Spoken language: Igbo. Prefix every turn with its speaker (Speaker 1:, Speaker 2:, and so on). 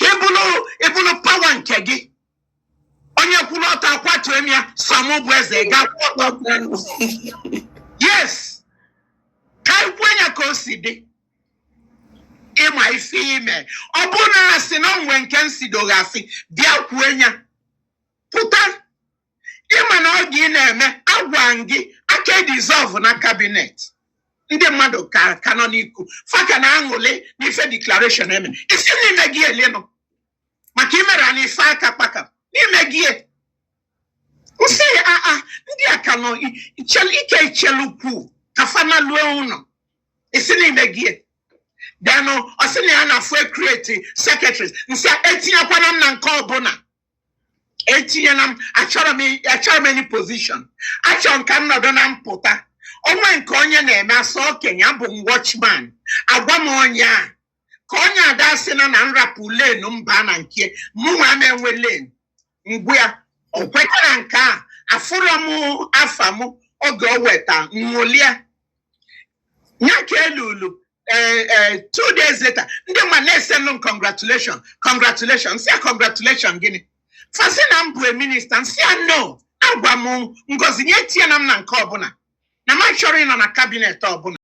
Speaker 1: i buru i buru pawa nke gị onye kwụrụ ọtọ akwatuo m ya sọ mụ bụ eze ga-akwụ ọtọ yes ka anyị kwuo ya ka o si dị ị ma ife i me ọ bụrụ na asị na o nwe nke m sidoghị asị bịa kwuo ya pụta ị ma na ọ gị na-eme agwa m gị aka edizọvụna kabinet ndị mmadụ ka ka nọ n'iku fa ka na-aṅụlị n'ife deklarashọn eme i si na imegie len maka imere na ife aka kpaka na imegie m sị aa ndị a ka nọ i- ichel- ike ichelu kwuu ka fa nalue ụnọ i si na imegie len ọ sị na ya na-afụ ekreti sekretaris m sị etinyekwana m na nke ọbụna etinyena m achọrọ m achọrọ m any position achọ m ka m nọdụ na mpụta o nwe nke onye na-eme asọ okenye abụ m watchman agwa m onye a ka onye ada asị na na m rapụ len m baa na nke mụnwa m enwe len ngwa ya o kwetara nke a afụrọ m afa m oge o weta m ṅụlịa ya ka elulu ee eh, eh, two days later ndị mmadụ na-esendụ m congratulation congratulation sị ya congratulation gịnị fa sị na m bụ minista m sị ya no agwa m ngozi ya etinyena m na nke ọbụna na m achọrọ ịnọ na kabinet ọbụna